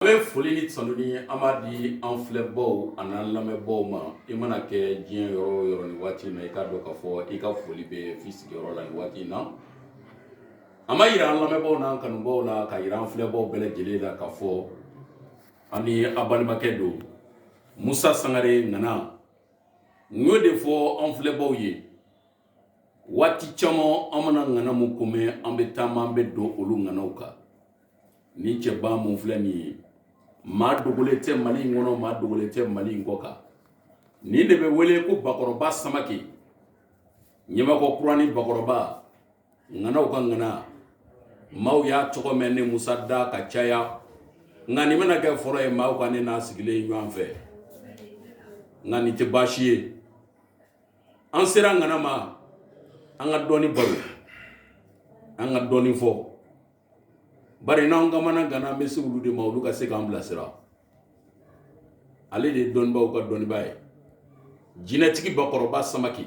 An bɛ foli ni tanuni an b'a di an filɛbaaw ani an lamɛnbaaw ma i mana kɛ diɲɛ yɔrɔ o yɔrɔ nin waati in na i k'a dɔn k'a fɔ i ka foli bɛ f'i sigiyɔrɔ la nin waati in na an b'a yira an lamɛnbaaw n'an kanubaaw la k'a yira an filɛbaaw bɛɛ lajɛlen la k'a fɔ an ni a balimakɛ don Musa Sangare ŋana n y'o de fɔ an filɛbaaw ye waati caman an mana ŋana mun ko mɛn an bɛ taama an bɛ don olu ŋanaw kan nin cɛba mun filɛ nin ye maa dogolen tɛ mali in kɔnɔ maa dogolen tɛ mali in kɔ kan nin de bɛ wele ko bakɔrɔba samake ɲamakɔrɔ kurani bakɔrɔba ŋanaw ka ŋana maaw y'a tɔgɔ mɛn ne musa da ka caya nka nin bɛna kɛ fɔlɔ ye maaw ka ne n'a sigilen ye ɲɔgɔn fɛ nka nin tɛ baasi ye an sera ŋana ma an ka dɔɔni baro an ka dɔɔni fɔ bari n'an kamanagana an bɛ se olu de ma olu ka se k'an bilasira ale de ye dɔnnibaw ka dɔnnibaa ye jinɛtigi bakɔrɔba samake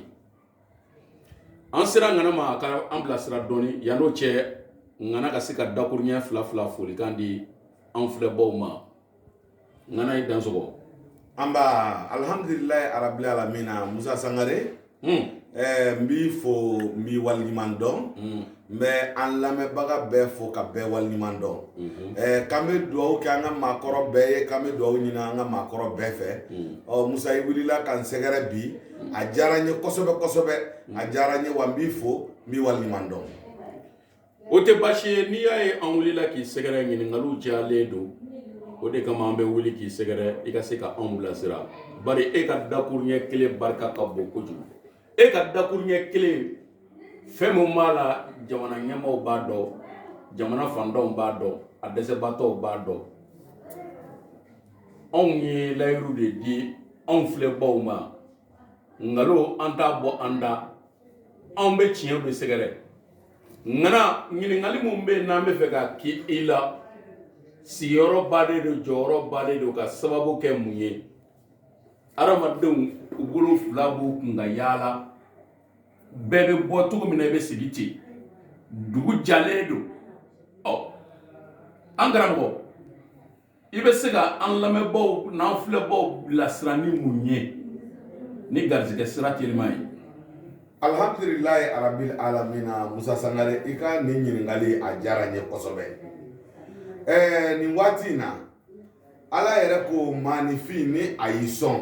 an sera ŋana ma a ka an bilasira dɔɔni yanni o cɛ ŋana ka se ka dakuruɲɛ fila fila folikan di an filɛbaaw ma ŋana i dansɔgɔ nba alhamdulilayi arabil alamina musa sangare hmm. eh, n b'i fo n b'i waliɲuman dɔn hmm. n bɛ an lamɛnbaga bɛɛ fo ka bɛɛ waliɲuman dɔn hmm. eh, k'an bɛ dugawu kɛ an ka maakɔrɔ bɛɛ ye k'an bɛ dugawu ɲini an ka maakɔrɔ bɛɛ fɛ ɔ musa i wulila ka n sɛgɛrɛ bi a diyara n ye kosɛbɛ kosɛbɛ a diyara n ye wa n b'i fo n b'i waliɲuman dɔn O tɛ baasi ye n'i y'a ye an wulila k'i sɛgɛrɛ ɲininkaliw cayalen don o de kama an bɛ wuli k'i sɛgɛrɛ i ka se k' anw bilasira bari e ka dakuruɲɛ kelen barika ka bon kojugu e ka dakuruɲɛ kelen fɛn min b'a la jamana ɲɛmaaw b'a dɔn jamana faantanw b'a dɔn a dɛsɛbaatɔw b'a dɔn anw ye layiuru de di anw filɛbaw ma nkalon an t'a bɔ an da anw bɛ tiɲɛ de sɛgɛrɛ ŋana ɲininkali min bɛ yen n'an b'a fɛ k'a kɛ i la sigiyɔrɔ bannen don jɔyɔrɔ bannen don ka sababu kɛ mun ye adamadenw u bolo fila b'u kun ka yaala bɛɛ bɛ bɔ cogo min na i bɛ sigi ten dugu jalen don ɔ an karamɔgɔ i bɛ se ka an lamɛnbaw n'an filɛbaw bilasira ni mun ye ni garisigɛ sira teliman ye alhamdulilayi arabil alamina musa sangare i ka nin ɲininkali a diyara n ye kosɛbɛ ɛɛ nin waati in na ala yɛrɛ ko maanifin ni a y'i sɔn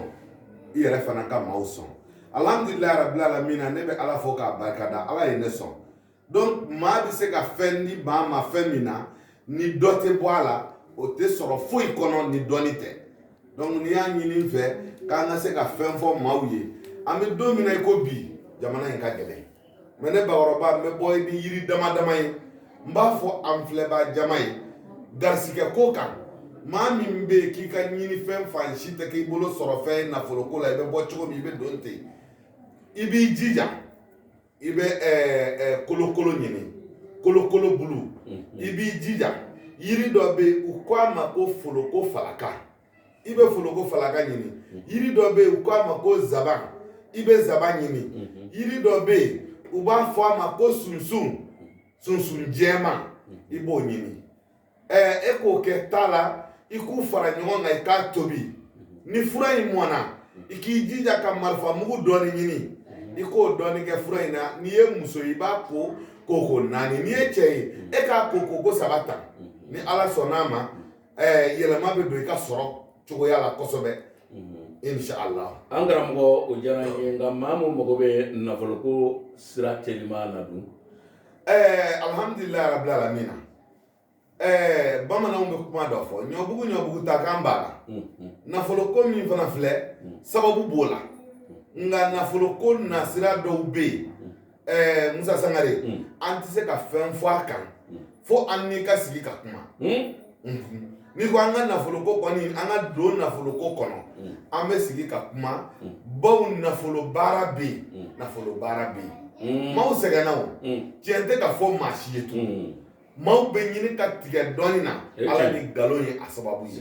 i yɛrɛ fana ka maaw sɔn alhamdulilayi arabil alamina ne bɛ ala fo k'a barikada ala ye ne sɔn donc maa bɛ se ka fɛn di maa ma fɛn min na ni dɔ tɛ bɔ a la o tɛ sɔrɔ foyi kɔnɔ ni dɔnni tɛ donc n'i y'a ɲini n fɛ k'an ka se ka fɛn fɔ maaw ye an bɛ don min na i ko bi jamana in ka gɛlɛn mais ne bakɔrɔba n bɛ bɔ ni yiri dama dama ye n b'a fɔ an filɛbaa jama ye garisigɛ ko kan maa min bɛ yen k'i ka ɲini fɛn fan si tɛ k'i bolo sɔrɔ fɛn nafolo ko la i bɛ bɔ cogo min i bɛ don ten i b'i jija i bɛ kolokolo ɲini kolokolo bulu i b'i jija yiri dɔ bɛ yen u ko a ma ko foloko falaka i bɛ foloko falaka ɲini yiri dɔ bɛ yen u ko a ma ko zaban i bɛ zaban ɲini yiri dɔ bɛ yen u b'a fɔ a ma ko sunsun sunsun jɛman i b'o ɲini e k'o kɛ ta la i k'u fara ɲɔgɔn kan i k'a tobi ni fura in mɔna i k'i jija ka marifa mugu dɔɔni ɲini i k'o dɔɔni kɛ fura in na n'i ye muso i b'a ko koko naani n'i ye cɛ ye e k'a ko koko saba ta ni ala sɔnn'a ma yɛlɛma bɛ don i ka sɔrɔ cogoya la kosɛbɛ inshallah an karamɔgɔ o diyara n ye nka maa min mago bɛ nafoloko sira teliman na dun ɛɛ alhamdulilayi rabbil alamina ɛɛ bamananw bɛ kuma dɔ fɔ ɲɔbugu ɲɔbugu ta kan b'a la nafoloko min fana filɛ sababu b'o la nka nafoloko nasira dɔw bɛ yen ɛɛ musa sangare an tɛ se ka fɛn fɔ a kan fo an n'i ka sigi ka kuma n'i ko an ka nafoloko kɔni an ka don nafoloko kɔnɔ an bɛ sigi ka kuma baw nafolo baara bɛ yen nafolo baara bɛ yen maaw sɛgɛnna o tiɲɛ tɛ ka fɔ maa si ye tun maaw bɛ ɲini ka tigɛ dɔnni na ala ni nkalon ye a sababu ye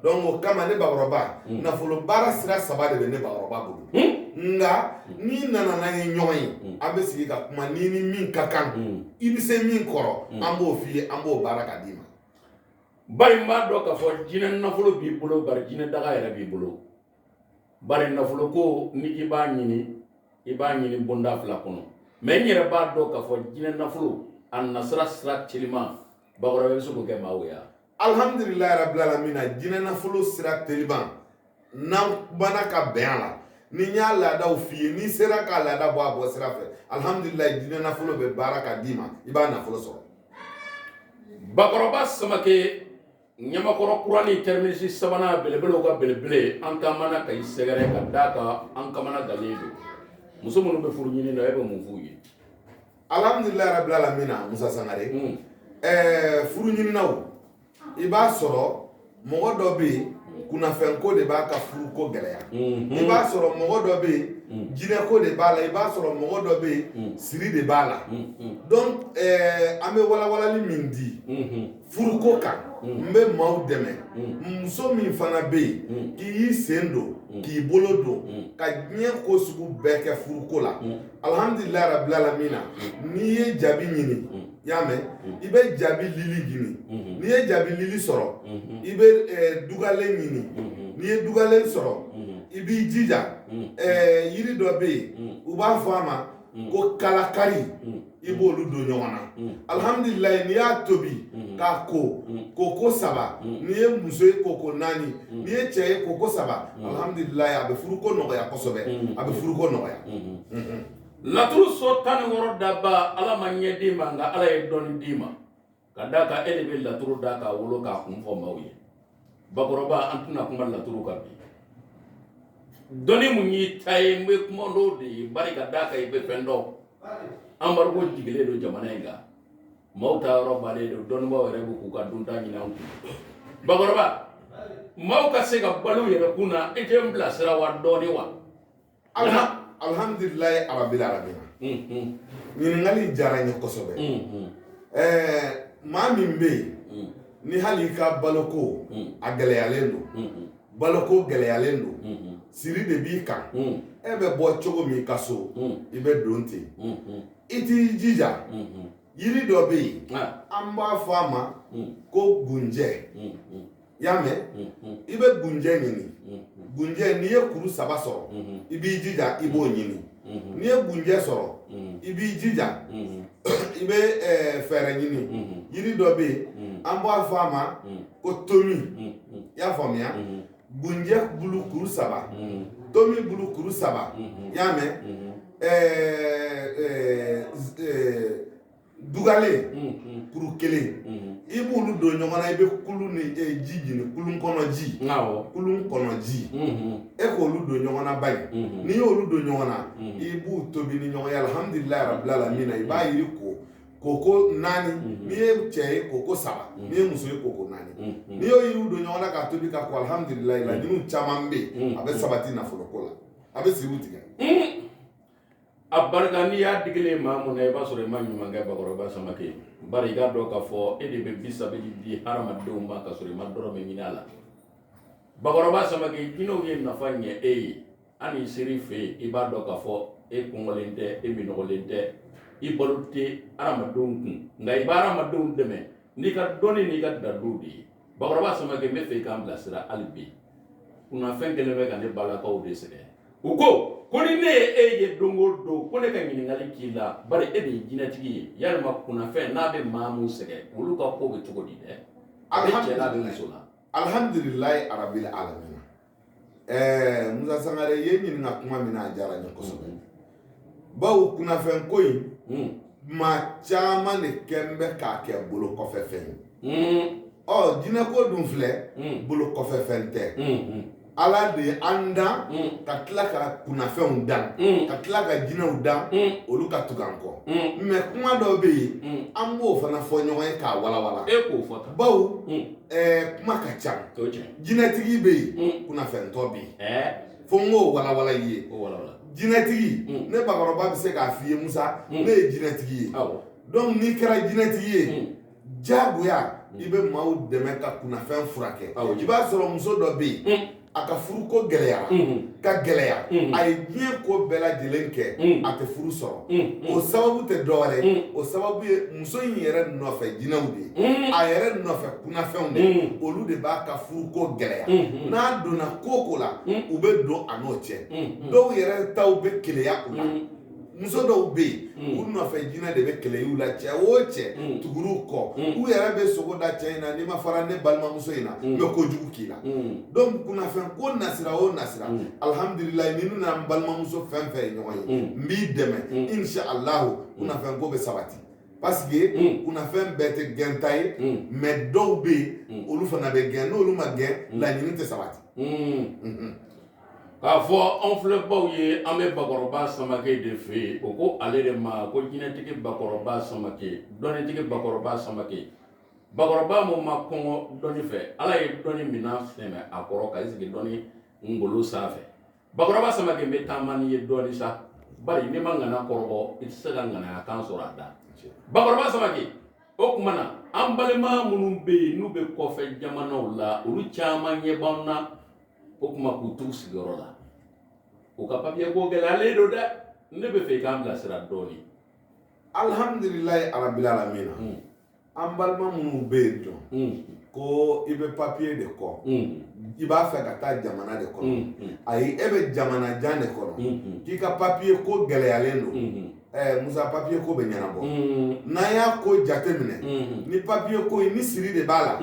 donc o kama ne bakɔrɔba nafolo baara sira saba de bɛ ne bakɔrɔba bolo nka n'i nana n'an ye ɲɔgɔn ye an bɛ sigi ka kuma n'i ni min ka kan i bɛ se min kɔrɔ an b'o f'i ye an b'o baara ka d'i ma bari n b'a dɔn k'a fɔ jinɛ nafolo b'i bolo bari jinɛ daga yɛrɛ b'i bolo bari nafolo ko ni i b'a ɲini i b'a ɲini bonda fila kɔnɔ mais n yɛrɛ b'a dɔn k'a fɔ jinɛ nafolo a nasira sira teliman bakɔrɔba bɛ se k'o kɛ maaw ye wa alhamdulilayi rabbil alamin jinɛ nafolo sira teliman n'an bana ka bɛn a la ni n y'a laadaw f'i ye n'i sera k'a laada bɔ a bɔ sira fɛ alihamudulilayi jinɛ nafolo bɛ baara ka d'i ma i b'a nafolo sɔrɔ bakɔrɔba samakɛ ɲamakɔrɔ kurani terminus sabanan belebelew ka belebele an taamana ka i sɛgɛrɛ ka d'a kan an kamana gannen don muso minnu bɛ furu ɲini na e bɛ mun f'u ye alihamudulilayi rabil alamina musa sangare furu ɲininaw i b'a sɔrɔ mɔgɔ dɔ bɛ yen kunnafɛnko de b'a ka furuko gɛlɛya mhm. i b'a sɔrɔ mɔgɔ dɔ bɛ yen mhm. jinɛko de b'a la i b'a sɔrɔ mɔgɔ dɔ bɛ yen mhm. siri de b'a la donc eh, an bɛ walawalali min di furuko kan n bɛ maaw dɛmɛ muso min fana bɛ yen k'i y'i sen don k'i bolo don ka diɲɛ ko sugu bɛɛ kɛ furuko la alihamdulilayi rabilalamina n'i ye jabi ɲini i y'a mɛn i bɛ jabi lili ɲini n'i ye jabi lili sɔrɔ i bɛ dugalen ɲini n'i ye dugalen sɔrɔ i b'i jija yiri dɔ bɛ yen u b'a fɔ a ma ko kalakari i b'olu don ɲɔgɔn na alihamdulilayi n'i y'a tobi k'a ko koko saba n'i ye muso ye koko naani n'i ye cɛ ye koko saba alihamdulilayi a bɛ furuko nɔgɔya kosɛbɛ a bɛ furuko nɔgɔya Laturu so tan ni wɔɔrɔ daba ala ma ɲɛ d'i ma nka ala ye dɔnni d'i ma ka d'a kan e de bɛ laturu da k'a wolo k'a kun fɔ maaw ye bakɔrɔba an tɛna kuma laturu kan bi dɔnni minnu y'i ta ye n bɛ kuma dɔw de ye bari ka d'a kan i bɛ fɛn dɔn embargo jiginlen don jamana in kan maaw taa yɔrɔ bannen don dɔnnibaaw yɛrɛ bɛ k'u ka dunta ɲini an kun bakɔrɔba maaw ka se ka balo yɛrɛ kun na e tɛ n bilasira wa dɔɔnin wa alhamdulilayi arabil alamina ɲininkali in diyara n ye kosɛbɛ maa min bɛ yen ni hali i ka baloko a gɛlɛyalen don baloko gɛlɛyalen don siri de b'i kan e bɛ bɔ cogo min ka so i bɛ don ten i t'i jija yiri dɔ bɛ yen an b'a fɔ a ma ko gunjɛ i y'a mɛn i bɛ gunjɛ ɲini gunjɛ n'i ye kuru saba sɔrɔ i b'i jija i b'o ɲini n'i ye gunjɛ sɔrɔ i b'i jija i bɛ fɛɛrɛ ɲini yiri dɔ bɛ yen an b'a fɔ a ma ko tomi i y'a faamuya gunjɛ bulu kuru saba tomi bulu kuru saba i y'a mɛn dugalen kuru kelen i b'olu don ɲɔgɔn na i bɛ kulunnin ji ɲini kulun kɔnɔ ji kulun kɔnɔ ji e k'olu don ɲɔgɔn na bari n'i y'olu don ɲɔgɔn na i b'u tobi ni ɲɔgɔn ye alihamudulila rabila alamin i b'a yiri ko koko naani n'i ye cɛ ye koko saba n'i ye muso ye koko naani n'i y'o yiriw don ɲɔgɔn na k'a tobi ka ko alihamudulila laɲiniw caman bɛ yen a bɛ sabati nafoloko la a bɛ siriw tigɛ A barika n'i y'a digilen maa mun na i b'a sɔrɔ i ma ɲuman kɛ bakɔrɔba samake bari i k'a dɔn k'a fɔ e de bɛ bisabili di hadamadenw ma ka sɔrɔ i ma dɔrɔmɛ ɲini a la bakɔrɔba samake jinɛw ye nafa ɲɛ e ye an ser'i fɛ yen i b'a dɔn k'a fɔ e kɔngɔlen tɛ e minɔgɔlen tɛ i balo tɛ hadamadenw kun nka i bɛ hadamadenw dɛmɛ n'i ka dɔnni n'i ka daliluw de ye bakɔrɔba samake n bɛ fɛ i k'an bilasira hali bi kunnafɛn kelen bɛ ka ne balakaw de sɛgɛn u ko ko ni ne ye e ye don o don ko ne ka ɲininkali k'i la bari e de ye jinɛtigi ye yalima kunnafɛn n'a bɛ maa min sɛgɛn olu ka ko bɛ cogo di dɛ a bɛ cɛ la a bɛ muso la alihamdulilayi arabil alamin ɛɛ Musa Sangare ye n ɲininka kuma min na a diyara n ye kosɛbɛ bawo kunnafɛn ko in hmm. maa caman de kɛn bɛ k'a kɛ bolo kɔfɛ fɛn ye hmm. ɔ jinɛko dun filɛ hmm. bolo kɔfɛ fɛn tɛ ala de ye an dan ka tila ka kunnafɛnw dan ka tila ka jinɛw dan olu ka tugu an kɔ mɛ kuma dɔw bɛ yen an b'o fana fɔ ɲɔgɔn ye k'a walawala e k'o fɔ bawo kuma ka ca jinɛtigi bɛ yen mm. kunnafɛntɔ bɛ yen eh. fo n k'o walawala i ye jinɛtigi mm. ne bakɔrɔba bɛ se k'a f'i ye musa mm. ne ye jinɛtigi ye donc n'i kɛra jinɛtigi ye diyagoya i bɛ maaw dɛmɛ ka kunnafɛn furakɛ i b'a sɔrɔ muso dɔ bɛ yen a ka furuko gɛlɛyara mm-hmm. ka gɛlɛya mm-hmm. a ye diɲɛ ko bɛɛ lajɛlen kɛ mm-hmm. a tɛ furu sɔrɔ o sababu tɛ dɔwɛrɛ o sababu ye muso in yɛrɛ nɔfɛ jinɛw de ye a yɛrɛ nɔfɛ kunnafɛnw de olu de b'a ka furuko gɛlɛya n'a donna ko ko la u bɛ don a n'o cɛ dɔw yɛrɛ taw bɛ keleya u la muso dɔw bɛ yen u nɔfɛ jinɛ de bɛ kɛlɛ la cɛ o cɛ tugur'u kɔ u yɛrɛ bɛ sugo da cɛ in na n'i ma fara ne balimamuso in na n bɛ ko jugu k'i la donc kunnafɛn ko nasira o nasira alihamdulila ni ne ni n balimamuso fɛn fɛn ye ɲɔgɔn ye n b'i dɛmɛ insha allah kunnafɛn ko bɛ sabati parce que mm. kunnafɛn bɛɛ tɛ gɛnta ye mm. mais dɔw bɛ yen mm. olu fana bɛ gɛn n'olu ma gɛn mm. laɲini tɛ sabati mm-hmm. k'a fɔ anw filɛbaaw ye an bɛ bakɔrɔba samake de fɛ yen o ko ale de ma ko jinɛtigi bakɔrɔba samake dɔnnitigi bakɔrɔba samake bakɔrɔba mun ma kɔngɔ dɔnni fɛ ala ye dɔnni minɛn sɛmɛ a kɔrɔ ka i sigi dɔnni ngolo sanfɛ bakɔrɔba samake bɛ taama n'i ye dɔɔni sa bari n'i ma ŋana kɔrɔbɔ i tɛ se ka ŋanaya kan sɔrɔ a da bakɔrɔba samake o tuma na an balima minnu bɛ yen n'u bɛ kɔfɛ jamanaw la olu caman ɲɛ b'an na o kuma k'u t'u sigiyɔrɔ la u ka papiye ko gɛlɛyalen don dɛ ne bɛ fɛ i k'an bilasira dɔɔni alhamdulilayi arabil alamina an balima minnu bɛ yen dɔn ko i bɛ papiye de kɔ i b'a fɛ ka taa jamana de kɔnɔ ayi e bɛ jamana jan de kɔnɔ k'i ka papiye ko gɛlɛyalen don musa papiye ko bɛ ɲɛnabɔ n'a y'a ko jate minɛ ni papiye ko ni siri de b'a la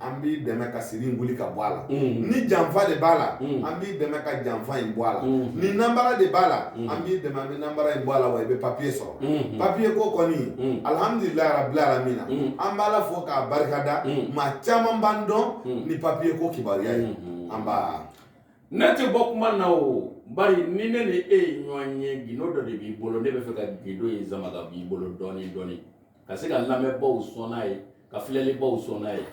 an b'i dɛmɛ ka siri in wuli ka bɔ a la mm. ni janfa de b'a la mm. an b'i dɛmɛ ka janfa in bɔ a la mm. ni nanbara de b'a la an b'i dɛmɛ an bɛ nanbara in bɔ a la wa i bɛ papiye sɔrɔ mm-hmm. papiye ko kɔni mm. alihamudulilayi rabil alamina an b'ala fo k'a barikada maa caman b'an dɔn ni papiye ko kibaruya ye mm-hmm. an b'a ne tɛ bɔ kuma na o bari ni ne ni e ye ɲɔgɔn ye gindo dɔ de b'i bolo ne bɛ fɛ ka gindo in sama ka b'i bolo dɔɔnin dɔɔnin ka se ka lamɛnbaaw sɔn n'a ye ka filɛlibaaw sɔn n'a ye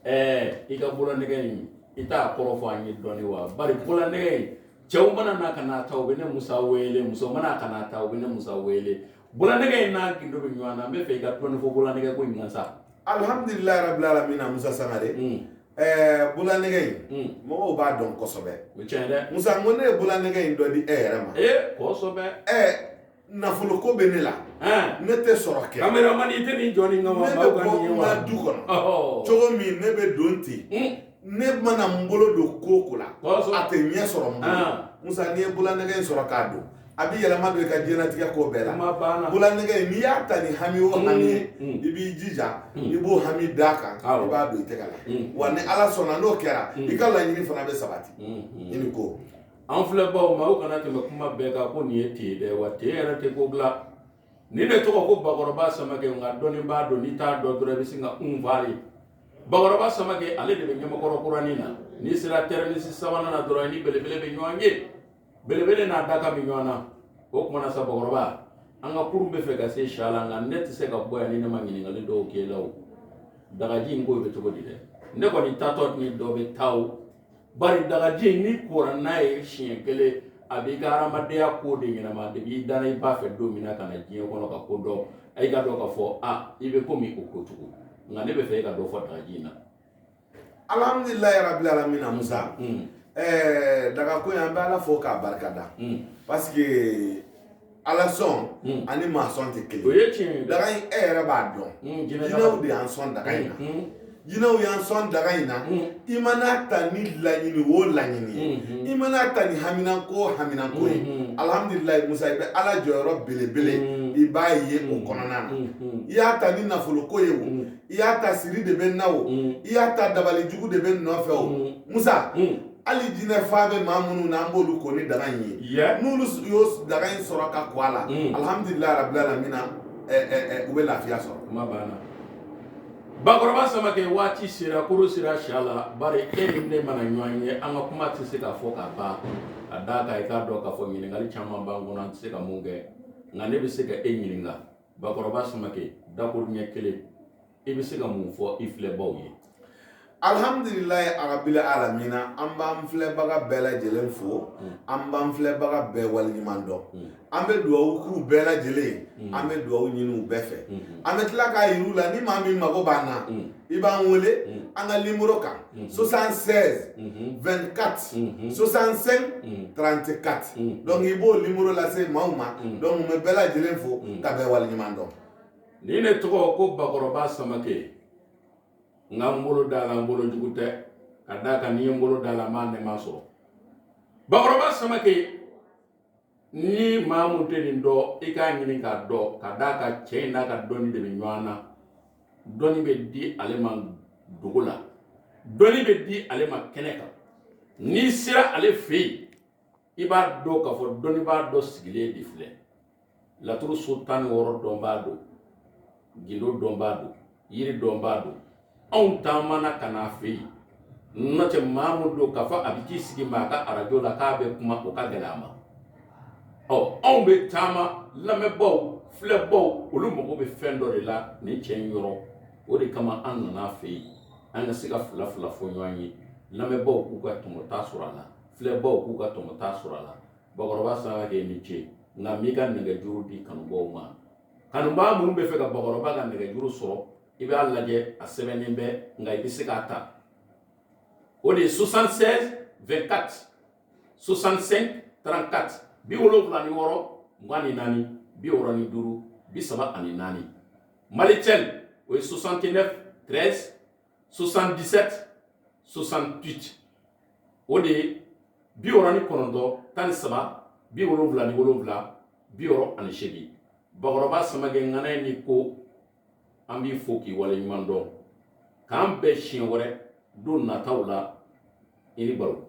ɛɛ i ka bololanɛgɛ in i t'a kɔrɔ fɔ an ye dɔɔni wa bari bololanɛgɛ in cɛw mana na ka n'a ta u bɛ ne musa wele muso mana ka n'a ta u bɛ ne musa wele bololanɛgɛ in n'a gindo bɛ ɲɔgɔn na n bɛ fɛ i ka dɔɔni fɔ bololanɛgɛ ko in kan sa alihamdulilayi rabbil alamina musa sangare mm. ɛɛ bololanɛgɛ in mm. mɔgɔw b'a dɔn kosɛbɛ o tiɲɛ dɛ musa n ko ne ye bololanɛgɛ in dɔ di e yɛrɛ ma ee kosɛbɛ ɛɛ nafolo ko bɛ ne la ne tɛ sɔrɔ kɛ kameraman i tɛ nin jɔ nin kama ne bɛ bɔ n ka du kɔnɔ cogo min ne bɛ don ten hmm. ne mana n bolo don ko o ko la a tɛ ɲɛ sɔrɔ n bolo musa n'i ye bololanɛgɛ in sɔrɔ k'a don a bɛ yɛlɛma don i ka diɲɛlatigɛ ko bɛɛ la bololanɛgɛ in n'i y'a ta ni hami o hami ye hmm. i b'i jija hmm. i b'o hami d'a kan i b'a don i tɛgɛ la wa ni ala sɔnna n'o kɛra i ka laɲini fana bɛ sabati i ni ko An filɛbagaw ma aw kana tɛmɛ kuma bɛɛ kan ko nin ye ten dɛ wa ten yɛrɛ tɛ ko bila nin de tɔgɔ ko bakɔrɔba samakɛ nka dɔnnibaa don n'i t'a dɔn dɔrɔn i bɛ sin ka kunfa ye bakɔrɔba samakɛ ale de bɛ ɲamakɔrɔ kuranin na n'i sera tɛrɛnisi sabanan na dɔrɔn i ni belebele bɛ ɲɔgɔn ye belebele n'a daga bɛ ɲɔgɔn na o tuma na sa bakɔrɔba an ka kurun bɛ fɛ ka se si la nka ne tɛ se ka bɔ yan ni ne ma ɲininkali dɔw k'e la dagaji in ko bɛ cogo di dɛ ne kɔni taatɔ ni dɔ bɛ taa bari dagaji n'i kora n'a ye siɲɛ kelen a b'i ka hadamadenya ko de ɲɛnama de b'i da i b'a fɛ don min na ka na diɲɛ kɔnɔ ka ko dɔn i k'a dɔn k'a fɔ i bɛ ko min ko ko tugun nka ne bɛ fɛ e ka dɔ fɔ dagaji in na alihamudulilayi rabil alamina musa hmm. daga ko in an bɛ ala fo k'a barikada hmm. parce ala sɔn hmm. ani maa sɔn tɛ kelen o ye tiɲɛ ye daga in e yɛrɛ b'a dɔn hmm, jinɛw de y'an sɔn daga in na hmm, jinɛw y'an sɔn daga in na i mana a ta ni laɲini o laɲini ye i mana a ta ni haminanko o haminanko ye alihamudulilayi musa i bɛ ala jɔyɔrɔ belebele i b'a ye o kɔnɔna na i y'a ta ni nafoloko ye o i y'a ta siri de bɛ na o i y'a ta dabali jugu de bɛ nɔfɛ o musa hali jinɛ fa bɛ maa minnu na an b'olu ko ni daga in ye n'olu y'o daga in sɔrɔ ka ko a la mm. alihamudulilayi arabili alamina u bɛ lafiya sɔrɔ bakɔrɔba samakɛ waati sera koro sera si la bari e ni ne mana ɲɔgɔn ye an ka kuma tɛ se ka fɔ ka ban ka d'a kan i k'a dɔn k'a fɔ ɲininkali caman b'an kɔnɔ an tɛ se ka mun kɛ nka ne bɛ se ka e ɲininka bakɔrɔba samakɛ dakuruɲɛ kelen i bɛ se ka mun fɔ i filɛbaw ye alihamdulilayi arabili alamina an b'an filɛbaga bɛɛ lajɛlen fo an b'an filɛbaga bɛɛ waleɲuman dɔn an bɛ dugawu k'u bɛɛ lajɛlen an bɛ dugawu ɲini u bɛɛ fɛ an bɛ tila k'a yir'u la ni maa min mago b'an na i b'an wele an ka nimoro kan 76 24 65 34 donc i b'o nimoro lase maaw ma donc n bɛ bɛɛ lajɛlen fo ka bɛɛ waleɲuman dɔn Ni ne tɔgɔ ko bakɔrɔba samakɛ n ka n bolo d'a la n bolo jugu tɛ ka d'a kan ni n ye n bolo d'a la n b'a nɛɛma sɔrɔ bakɔrɔba samakɛ ni maa min tɛ nin dɔn i k'a ɲini k'a dɔn ka d'a kan cɛ in n'a ka dɔnni de bɛ ɲɔgɔn na dɔnni bɛ di ale ma dogo la dɔnni bɛ di ale ma kɛnɛ kan n'i sera ale fɛ yen i b'a dɔn k'a fɔ dɔnnibaa dɔ sigilen de filɛ laturu so tan ni wɔɔrɔ dɔnbaa don gindo dɔnbaa don yiri dɔnbaa don anw taamana ka n'a fɛ yen n'o tɛ maa mun don k'a fɔ a bɛ t'i sigi maa ka arajo la k'a bɛ kuma o ka gɛlɛn a ma ɔ anw bɛ taama lamɛnbaaw filɛbaaw olu mago bɛ fɛn dɔ de la nin cɛ in yɔrɔ o de kama an nan'a fɛ yen an ka se ka fila fila fɔ ɲɔgɔn ye lamɛnbaaw k'u ka tɔmɔta sɔrɔ a la filɛbaw k'u ka tɔmɔta sɔrɔ a la bakɔrɔba samakɛ i ni ce nka m'i ka nɛgɛjuru di kanubaw ma kanubaa minnu bɛ fɛ ka bakɔrɔba ka nɛgɛjuru sɔrɔ i b'a lajɛ a sɛbɛnnen bɛ nka i bɛ se k'a ta o de ye 76 24 65 34 bi wolonwula ni wɔɔrɔ mugan ni naani bi wɔɔrɔ ni duuru bi saba ani naani Malitel o ye 69 13 77 68 o de ye bi wɔɔrɔ ni kɔnɔntɔn tan ni saba bi wolonwula ni wolonwula bi wɔɔrɔ ani seegin bakɔrɔba samakɛ ŋana ye ni ko an b'i fo k'i waleɲuman dɔn k'an bɛn siɲɛ wɛrɛ don nataw la i ni baro